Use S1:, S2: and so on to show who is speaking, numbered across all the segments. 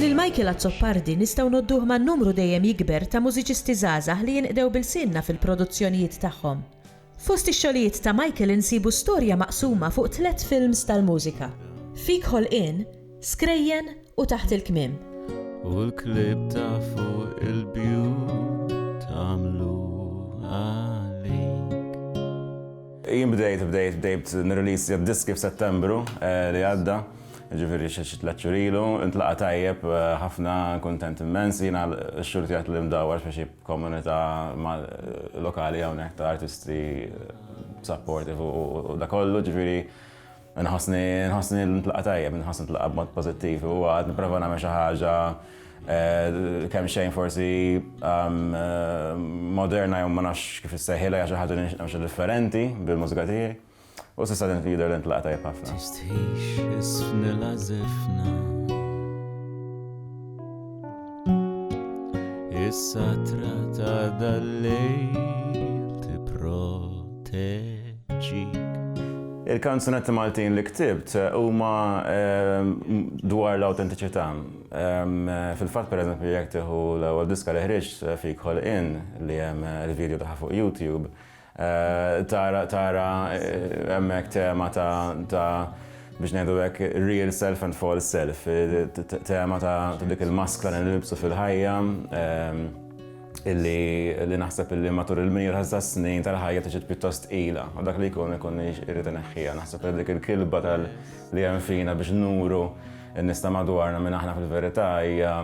S1: Lil Michael
S2: Azzopardi nistgħu ngħodduh ma' numru dejjem jikber ta' mużiċisti żgħażagħ li jinqdew b'ilsienna fil-produzzjonijiet tagħhom. Fost ix-xogħlijiet ta' Michael insibu storja maqsuma fuq tliet films tal-mużika, Fik Ħolqien, Skrejjen u Taħt il-Kmiem. U
S1: l-klieb ta' fuq il-bjut għamlu għalik.
S3: Jien bdejt bdejt bdejt nirriliżja d-diski f'Settembru li għadda. Jiġifieri xi xi tliet xhur ilu, intlaqa' tajjeb ħafna, kuntent immens. Jiena x-xhur tiegħi tliehom dawwar f'xi komunità lokali hawnhekk ta' artisti supportive u dak kollu, ġifieri nħossni nħossni ntlaqa' tajjeb, nħossni ntlaqa' b'mod pożittiv u għad nipprova nagħmel xi ħaġa kemxejn forsi moderna jew ma nafx kif issejħilha, hija xi ħaġa li nixtieq nagħmel xi differenti bil-mużika tiegħi. U s'issa din fi jidher li ntlaqa' tajjeb ħafna. Tistħix
S1: isfnilha żifna. Is-satra ta' dal-lejl tipproteġi Il-kanzunetti
S3: Maltin li ktibt eh, huma ehm, dwar l-autentiċità. Ehm, fil-fatt pereżempju jekk tieħu l-ewwel diska li ħriġt eh, fik ħolqien li hemm eh, il-video tagħha fuq YouTube, Tara, tara hemmhekk tema ta' ta' biex ngħidu hekk real self and false self, tema ta' dik il-maskra li nilbsu fil-ħajja illi naħseb illi matul il-mira ta' snin tal-ħajja tiġi pjuttost tqila u dak li jkun ikun irrid ineħħiha. Naħseb li dik il-kilba tal li hemm fina biex nuru n-nies ta' madwarna minn aħna fil-verità hija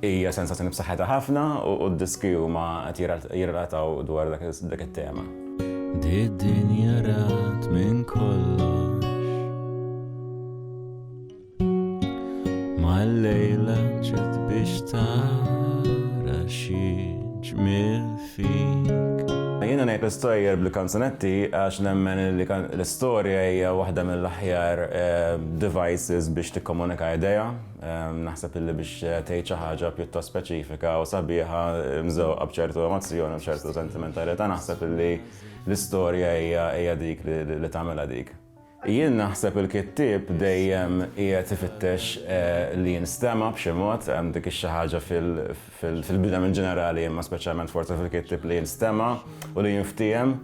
S3: Hija sensazzjoni b'saħħitha ħafna u d-diski huma qed jirrelataw dwar dak it-tema.
S1: Did-dinja rat minn kollox. Mal-lejla ġiet biex tara xi ġmiel fik. Jiena ngħid
S3: l-istorja bil-kanzunetti għax nemmen li l-istorja hija waħda mill-aħjar eh, devices biex tikkomunika idea Naħseb illi biex tgħid xi ħaġa pjuttost speċifika u sabiħa mżewqa b'ċertu emozzjoni u ċertu sentimentalità naħseb illi l-istorja hija dik li tagħmilha dik. Jien naħseb il-kittieb dejjem qiegħed ifittex eh, li jinstema' b'xi mod hemm dik xi ħaġa fil-bidem in ġenerali imma speċjalment forsi fil-kittieb li jinstema' u li jinftiehem.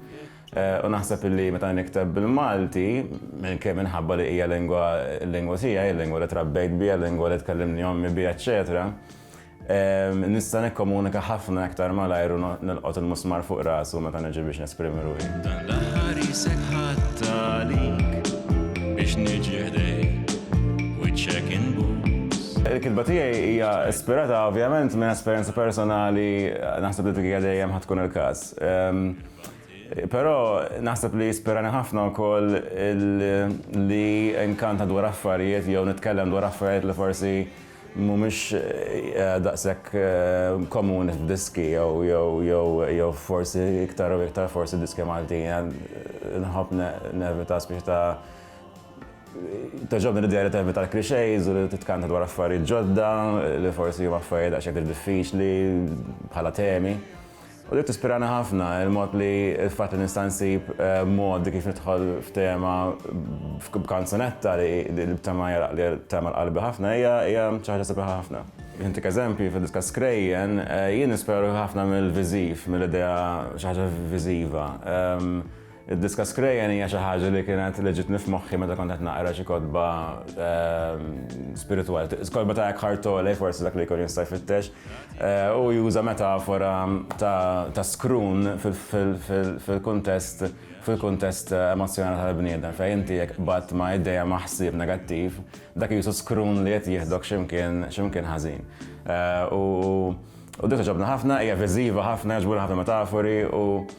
S3: U naħseb illi meta nikteb bil-Malti, kemm minħabba li hija lingwa, il-lingwa tiegħi, il-lingwa li trabbejt biha, il-lingwa li tkellimni ommi biha eċċetera, nista' nikkomunika ħafna iktar malajr u nilqot il-musmar fuq rasu meta niġi biex nesprimi ruħi. Dan l-aħħar
S1: qisek ħadt għalik biex niġi ħdejk, wiċċek inbus. Il-kitba tiegħi
S3: hija ispirata ovvjament minn esperjenza personali, naħseb li dik hija dejjem ħa tkun il-każ. Però naħseb li jispirani ħafna wkoll li nkanta dwar affarijiet jew nitkellem dwar affarijiet li forsi mhumiex daqshekk komuni f'diski jew forsi iktar u iktar forsi diski Maltin. Inħobb nevita spiċi ta' togħġobni l-idea li tevita l-clichés u li titkanta dwar affarijiet ġodda li forsi huma affarijiet daqsxejn iktar diffiċli bħala temi. U dik tispirana ħafna, il-mod li il-fatt li nista' nsib modi kif nidħol f'tema b'kanzunetta li b'tema hija li tagħmel qalbi ħafna hija hija xi ħaġa sabiħa ħafna. Biex intik eżempji, fid-diska Skrejjen, jien nispira ruħi ħafna mill-viżiv, mill-idea xi ħaġa viżiva. Id-diska Skrejjen hija xi ħaġa li kienet li ġitni f'moħħi meta kont qed naqra xi kotba spiritwali. Kotba ta' Eckhart Tolle, forsi dak li jkun jista' jfittex, hu juża metafora ta' skrun fil-kuntest fil-kuntest emozzjonali tal-bniedem, fejn inti jekk qbadt ma' idea, ma' ħsieb negattiv, dak qisu skrun li qed jieħdok xi mkien xi mkien ħażin. U din togħġobni ħafna, hija viżiva ħafna, jogħġbuni ħafna l-metafori u,